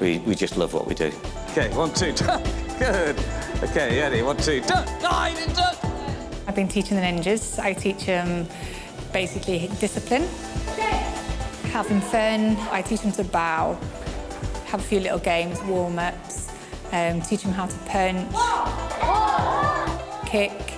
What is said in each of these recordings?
Wi wi jyst love what we do. Ok one two da! Good! Ok ie ni one two da! Da i ni da! I've been teaching the ninjas, I teach em basically discipline. Shit! Having fun, I teach em to bow, have a few little games, warm ups, erm teach em how to punch. Four! Four! Kick.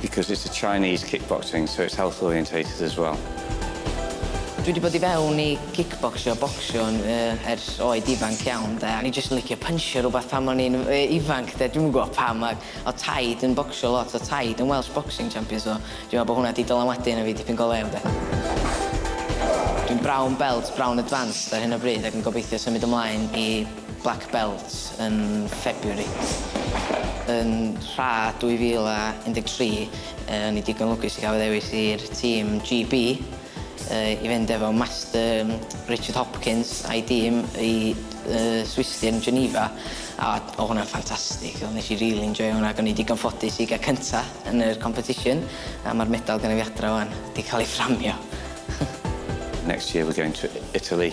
Because it's a Chinese kickboxing so it's health orientated as well. Dwi 'di bod i fewn i kickboxio, bocsio, yn yy ers oed ifanc iawn 'de, o'n i jyst yn licio pynsio rwbath pan o'n i'n yy ifanc 'de, dwi'm yn gwbo pam ac o'dd taid yn bocsio lot, o'dd taid yn Welsh boxing champion so dwi me'wl bo' hwnna 'di dylanwadu arno fi dipyn go lew 'de. Dwi'n brown belt, brown advanced ar hyn o bryd ac yn gobeithio symud ymlaen i Black Belt yn February. Yn Rha 2013, o'n i digon lwcus i gael fy ddewis i'r tîm GB i fynd efo Master Richard Hopkins a'i dîm i Swistir yn Geneva, a oedd hwnna'n ffantastig. Nes i rili enjoio hwnna, ac o'n i digon ffodus i gael cynta yn y competition, a mae'r medal genna fi adra 'wan, 'di cael ei fframio. Next year we're going to Italy.